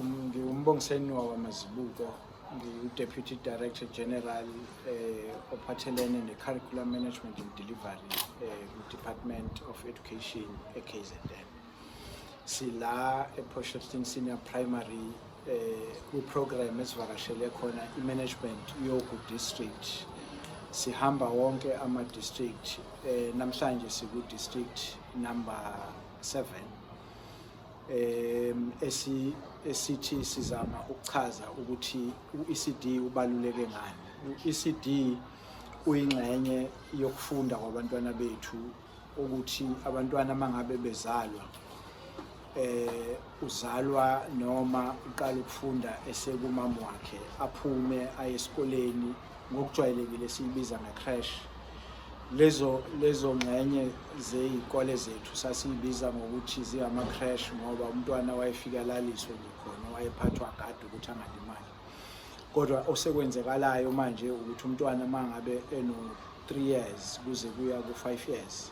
Ngiwumbongiseni wakwamazibuko ngiwu-deputy director general eh, ophathelene ne-curriculum management and delivery eh, ku-department of education e-kzn sila e-posherton senior primary eh, kwiprogram esivakashele khona i-management yogu district sihamba wonke ama-district eh, namhlanje siku-district number seven um esithi sizama ukuchaza ukuthi u-ECD ubaluleke ngani u-ECD uyingxenye yokufunda kwabantwana bethu ukuthi abantwana mangabe bezalwa eh uzalwa noma uqala ukufunda esekumama wakhe aphume aye esikoleni ngokujwayelekile siyibiza nge-crash lezo lezo ngxenye zey'kole zethu sasiyibiza ngokuthi zingama-crash ngoba umntwana wayefika laliswe nje khona wayephathwa kade ukuthi angalimali kodwa osekwenzekalayo manje ukuthi umntwana uma ngabe eno-three years kuze kuya ku-five years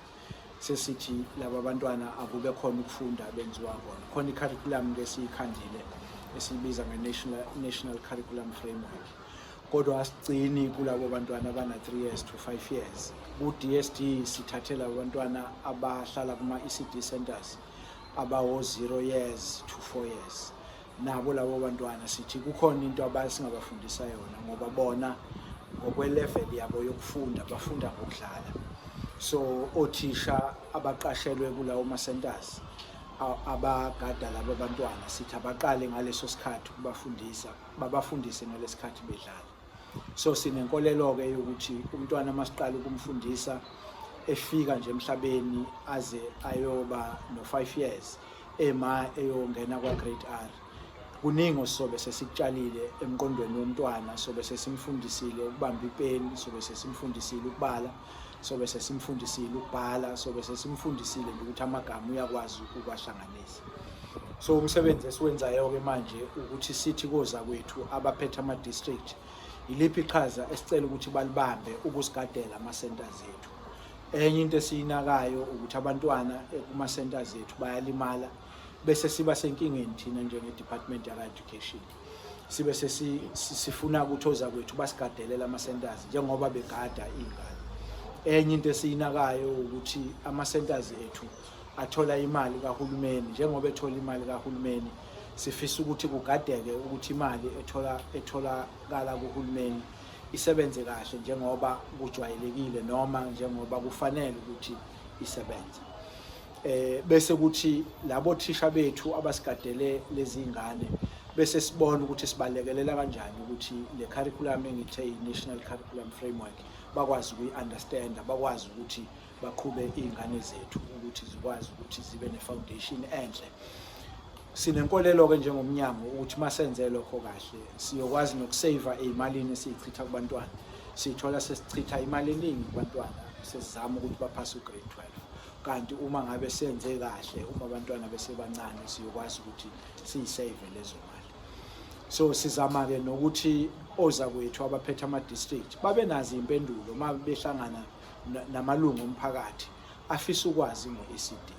sesithi laba bantwana akube khona ukufunda benziwa kona khona i-curriculum-ke esiyikhandile esiyibiza nge-national national curriculum framework kodwa asigcini kulabo bantwana abana-3 years to 5 years ku-dsd sithathela abantwana abahlala kuma-ecd centers abawo-0 years to 4 years nabo labo bantwana sithi kukhona into abasingabafundisa yona ngoba bona ngokwelevel yabo yokufunda bafunda ngokudlala so othisha abaqashelwe kulawo ma-centers abagada laba bantwana sithi abaqale ngaleso sikhathi ukubafundisa babafundise ngalesikhathi bedlala so sinenkolelo ke ukuthi umntwana masiqala ukumfundisa efika nje emhlabeni aze ayoba no 5 years ema eyongena kwa grade R kuningi osobe sesikutshalile emqondweni womntwana sobe sesimfundisile ukubamba ipeni sobe sesimfundisile ukubala sobe sesimfundisile ukubhala sobe sesimfundisile ukuthi amagama uyakwazi ukuwahlanganisa amatekisi so umsebenzi esiwenzayo-ke manje ukuthi sithi koza kwethu abaphethe ama-district yiliphi iqhaza esicela ukuthi balibambe ukusigadela ama-centers ethu enye into esiyinakayo ukuthi abantwana kuma-centers ethu bayalimala bese siba senkingeni thina njenge-department yaka-education sibe sifuna ukuthi oza kwethu basigadelela ama-centers njengoba begada iy'ngane enye into esiyinakayo ukuthi ama-centers ethu athola imali kahulumeni njengoba ethola imali kahulumeni sifisa ukuthi kugadeke ukuthi imali ethola etholakala kuhulumeni isebenze kahle njengoba kujwayelekile noma njengoba kufanele ukuthi isebenze eh bese kuthi labo thisha bethu abasigadele lezi ngane bese sibona ukuthi sibalekelela kanjani ukuthi le curriculum engithe i-national curriculum framework bakwazi ukuyi-understanda bakwazi ukuthi baqhube iy'ngane zethu ukuthi zikwazi ukuthi zibe ne-foundation enhle sinenkolelo-ke njengomnyango ukuthi uma senze lokho kahle siyokwazi nokuseyiva ey'malini esiyichitha kubantwana sithola sesichitha imali eningi kubantwana sesizama ukuthi baphase ugrade 12 kanti uma ngabe senze kahle uma abantwana besebancane siyokwazi ukuthi siyiseyive lezo mali so sizama-ke nokuthi ozakwethu abaphethe ama-district babe nazo iy'mpendulo uma behlangana namalungu omphakathi afisa ukwazi ngo-ECD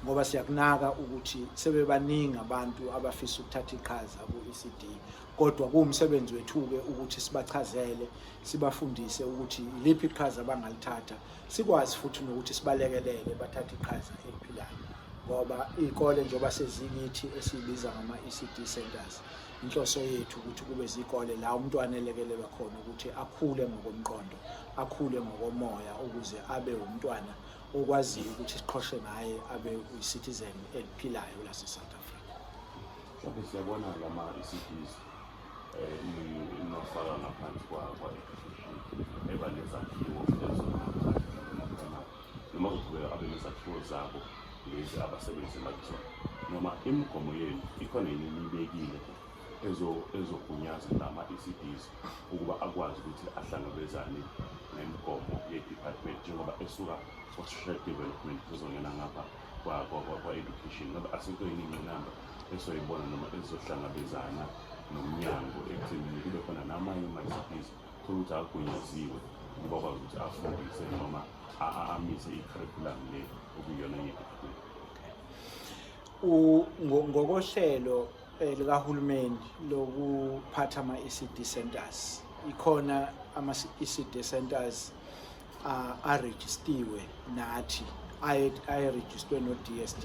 ngoba siyakunaka ukuthi sebebaningi abantu abafisa ukuthatha iqhaza ku-ECD kodwa kuwumsebenzi wethu-ke ukuthi sibachazele sibafundise ukuthi iliphi iqhaza abangalithatha sikwazi futhi nokuthi sibalekelele bathathe iqhaza eliphilayo ngoba iy'kole njengoba sezingithi esiyibiza ngama-ECD centers inhloso yethu ukuthi kube zikole la umntwana elekelelwa khona ukuthi akhule ngokomqondo akhule ngokomoya ukuze abe umntwana okwaziyo ukuthi siqhoshe ngaye abe uyi-citizen eliphilayo lase-south africa okay siyabona lama i-cities um inofaka ngaphansi kwa-education eba nezakhiwo noma kuqhubeka abe nezakhiwo zabo lezi abasebenzi emabizona noma imigomo yenu ikhona yini niyibekile ezogunyaza nama-ECDs ukuba akwazi ukuthi ahlangabezane nemigomo ye-department njengoba esuka kwa-social development ezongena ngapha kwa-education ngoba asikho yini ingqinamba esoyibona noma ezohlangabezana nomnyango ekuthenini kube khona namanye ama-ECDs thola ukuthi agunyaziwe ukuba kwazi ukuthi afundise noma amise i-curriculum le okuyiyona ye-department ngokohlelo eh, likahulumeni lokuphatha ama-ECD centers ikhona ama-ECD centers arejistiwe nathi ayerejistwe no-DSD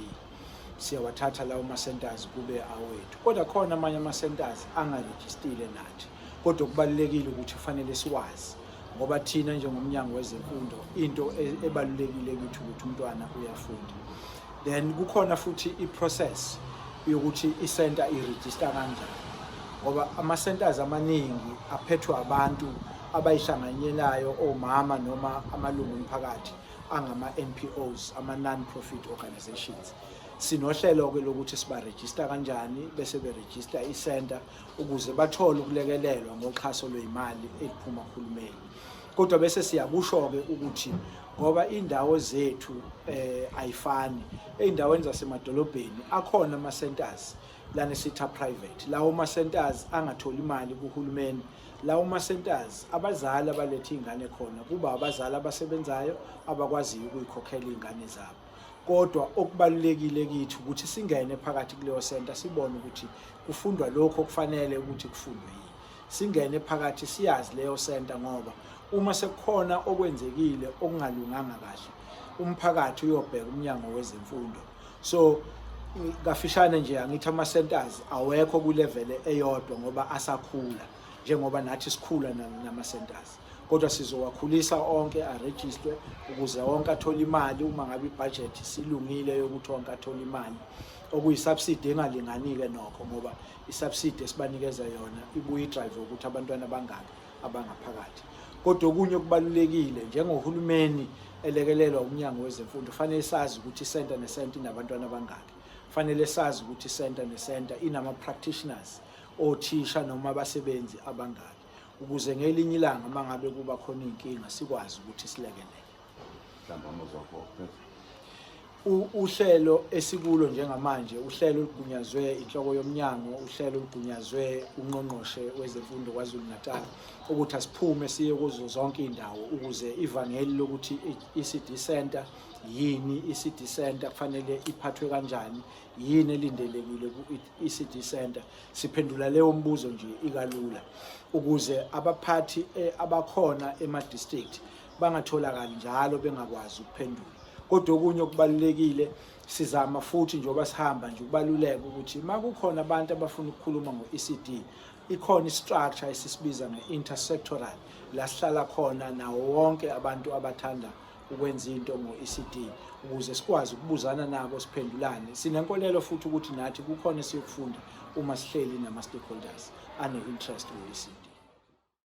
siyawathatha lawo ma-centers kube awethu kodwa khona amanye ama-centers angarejistile nathi kodwa kubalulekile ukuthi kufanele siwazi ngoba thina njengomnyango wezemfundo into e-, ebalulekile kithi ukuthi umntwana uyafunda then kukhona futhi i-process yokuthi i-center i-register kanjani ngoba ama-centers amaningi aphethwe abantu abayihlanganyelayo omama noma amalungu omphakathi angama-npos ama-non-profit organizations sinohlelo-ke lokuthi sibarejista kanjani bese berejista i-center ukuze bathole ukulekelelwa ngoxhaso lweyimali eliphuma kuhulumeni kodwa bese siyakusho-ke ukuthi ngoba iy'ndawo zethu eh ayifani ey'ndaweni zasemadolobheni akhona ama-centers lana sitha private lawo ma-centers angatholi imali kuhulumeni lawo ma-centers abazali abaletha iy'ngane khona kuba abazali abasebenzayo abakwaziyo ukuyikhokhela iy'ngane zabo kodwa okubalulekile kithi ukuthi singene phakathi kuleyo senta sibone ukuthi kufundwa lokho okufanele ukuthi kufundwe yini singene phakathi siyazi leyo senta ngoba uma sekukhona okwenzekile okungalunganga kahle umphakathi uyobheka umnyango wezemfundo so kafishane nje angithi ama centers awekho ku level eyodwa ngoba asakhula njengoba nathi sikhula nama centers kodwa sizowakhulisa onke arejistwe ukuze wonke athole imali uma ngabe ibudget silungile yokuthi wonke athole imali okuyisubsidi engalinganike nokho ngoba isubsidi esibanikeza yona ibuye idrive ukuthi abantwana bangaki abangaphakathi kodwa okunye okubalulekile njengohulumeni elekelelwa umnyango wezemfundo fanele sazi ukuthi isenta nesenta inabantwana abangaki fanele sazi ukuthi isenta nesenta inama-practitioners othisha noma abasebenzi abangaki ukuze ngelinye ilanga uma ngabe kuba khona iy'nkinga sikwazi ukuthi silekelele uhlelo esikulo njengamanje uhlelo olugunyazwe inhloko yomnyango uhlelo olugunyazwe ungqongqoshe wezemfundo kwazulu natal ukuthi asiphume siye kuzo zonke iy'ndawo ukuze ivangeli lokuthi i-ecd center yini i-ecd center kufanele iphathwe kanjani yini elindelekile ECD Center siphendula leyo mbuzo nje ikalula ukuze abaphathi eh, abakhona ema district bangatholakali njalo bengakwazi ukuphendula kodwa okunye okubalulekile sizama futhi njengoba sihamba nje ukubaluleka ukuthi uma kukhona abantu abafuna ukukhuluma ngo-ECD ikhona i-structure esisibiza nge-intersectoral la sihlala khona nawo wonke abantu abathanda ukwenza into ngo-ECD ukuze sikwazi ukubuzana nabo siphendulane sinenkolelo futhi ukuthi nathi kukhona esiyokufunda uma sihleli nama-stakeholders ane-interest ku-ECD